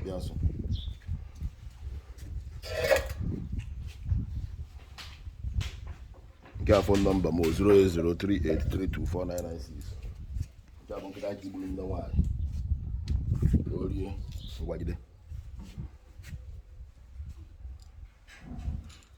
Yes. nke a phone number m 08038324996 nke a bụ nkịta aka igburu nne nwaanyị orie ngwagide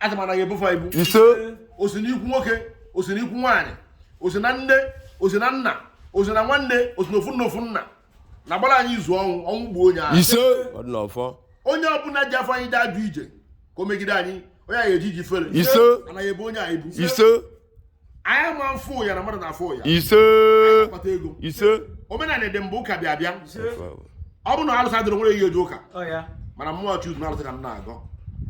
asị m anaghị ebufe ibu ise o si n'ikwu nwoke o si n'ikwu nwaanyị o si na nne o si na nna o si na nwanne o si na ofu nne ofu nna na-agbara anyị izu ọnwụ ọnwụ gbuo onye ahụ ise ọ dị n'ọfọ onye ọbụla ji afa anyị ji ajụ ije ka o megide anyị onye anyị eji ji fere Ise. anaghị ebu onye anyị bu ise anyị ma mfụ ya na mmadụ na-afụ ya ise kpata ego ise omenala dị mbụ ụka bịa bịa ọ bụrụ na alụsị adịrọ nwere ihe eji ụka Ọ ya. mana mmụọ chukwu na alụsị ka m na-agọ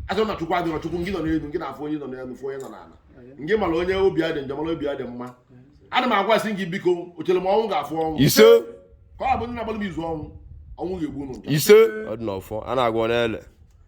asị na chukwu adịrọ chukwu ngị nọ n'elu ngị na-afụ onye nọ n'elu fụ onye nọ n'ala ngị mara onye obi ya dị njọ mara obi ya dị mma ana m agwasị gị biko o chere m ọnwụ ga-afụ ọnwụ ise ka ọ bụ ndị na-agbalị m izu ọnwụ ọnwụ ga-egbu unu njọ ise ọ dị n'ọfọ a na-agwọ ọ na-ele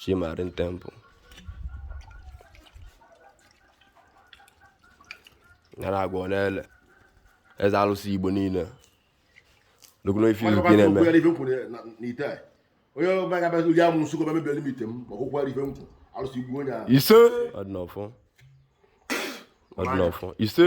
Chi Marine Temple a na-agwọ ọ na-ele eze alụsị Igbo niile lụkwuru ife izu ka ị na-eme onye ọbụla ga-abịa ụdị amụ nsụkọ bịa mebere m ite m ma ọkwụkwọ ife m kwụ alụsị gbuo onye ahụ ise ọ dị n'ọfọ ọ dị n'ọfọ ise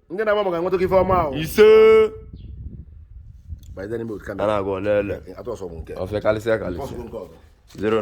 ndị na-agba maka nweta ife ọma ahụ ise by the name of a Canada. na-agwọ ọ na-ele Atụ ọsọ bụ nke. ọfịa karịsịa karịsịa Ọsọ bụ nke ọzọ. 09